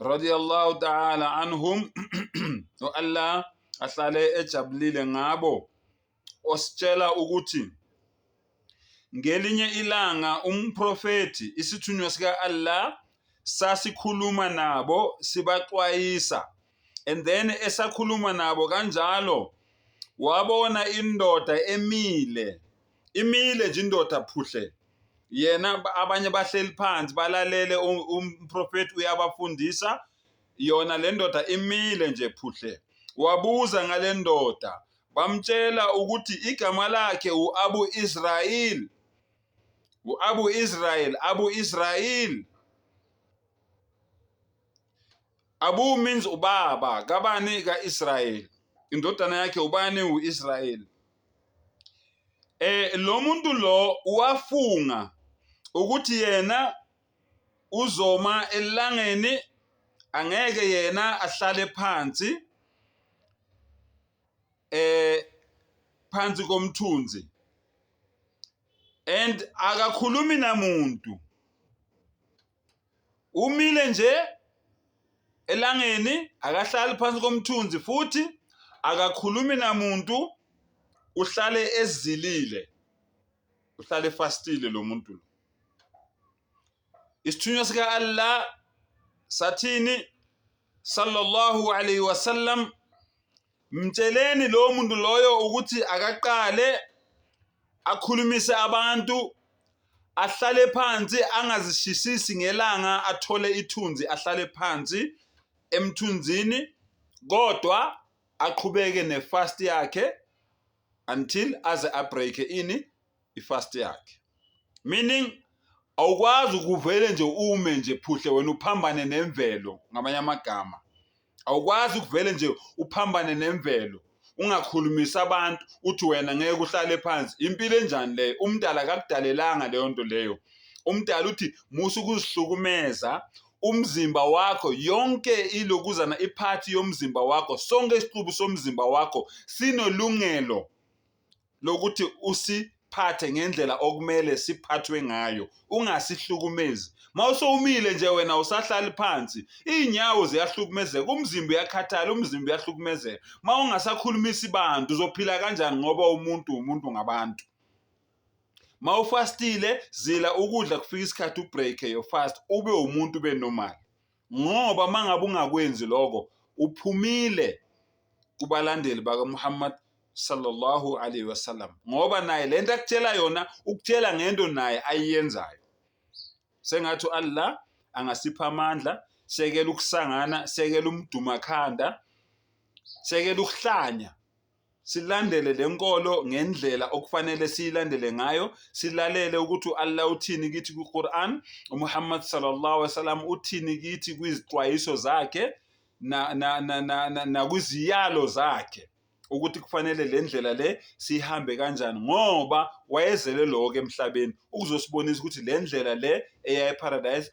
radiyallahu ta'ala anhum u-Allah ahlale ejabulile ngabo ositshela ukuthi ngelinye ilanga umprofethi isithunywa sika-Allah sasikhuluma nabo sibaxwayisa and then esakhuluma nabo kanjalo wabona indoda emile imile nje indoda phuhle yena ab- abanye bahleli phansi balalele u- umprofeti uyabafundisa yona le ndoda imile nje phuhle wabuza ngale ndoda bamtshela ukuthi igama lakhe u-abu israyeli u-abu israyeli abu israyeli Abu means ubaba kabani ka-Israyeli, indodana yakhe ubani u-Israyeli. Eh lo muntu lo wafunga ukuthi yena uzoma elangeni angeke yena ahlale phansi eh phansi komthunzi and akakhulumi namuntu Umile nje elangeni, akahlali phansi komthunzi futhi akakhulumi namuntu, uhlale ezilile, uhlale efastile lo muntu lo. Isithunywa sika-Allah sathini sallallahu alayhi wasallam Mtsheleni lowo muntu loyo ukuthi akaqale akhulumise abantu ahlale phansi angazishisisi ngelanga athole ithunzi ahlale phansi emthunzini kodwa aqhubeke nefast yakhe until aze abreake ini i-fast yakhe meaning awukwazi ukuvele nje ume nje phuhle wena uphambane nemvelo ngamanye amagama awukwazi ukuvele nje uphambane nemvelo ungakhulumisa abantu uthi wena ngeke uhlale phansi impilo enjani leyo umdala akakudalelanga leyo nto leyo umdala uthi musa ukuzihlukumeza umzimba wakho yonke ilokuzana iphathi yomzimba wakho sonke isixubu somzimba wakho sinolungelo lokuthi usiphathe ngendlela okumele siphathwe ngayo ungasihlukumezi mawusowumile nje wena usahlali phansi izinyawo ziyahlukumezeka umzimba uyakhathala umzimba uyahlukumezeka mawungasakhulumisi bantu uzophila kanjani ngoba umuntu umuntu ngabantu mawufastile zila ukudla kufika isikhathi ubreak your fast ube umuntu ube normal ngoba mangabe ungakwenzi lokho uphumile kubalandeli bakaMuhammad sallallahu alaihi wasallam ngoba naye lento akutshela yona ukutshela ngento naye ayiyenzayo sengathi Allah angasipha amandla sekela ukusangana sekela umdumakhanda sekela ukuhlanya silandele le nkolo ngendlela okufanele siyilandele ngayo silalele ukuthi u-allah uthini kithi kwi-quran umuhammad sallallahu alaihi wasallam uthini kithi kwizixwayiso zakhe nakwiziyalo zakhe ukuthi kufanele le ndlela le siyihambe kanjani ngoba wayezele lokho emhlabeni ukuzosibonisa ukuthi le ndlela le eya eparadise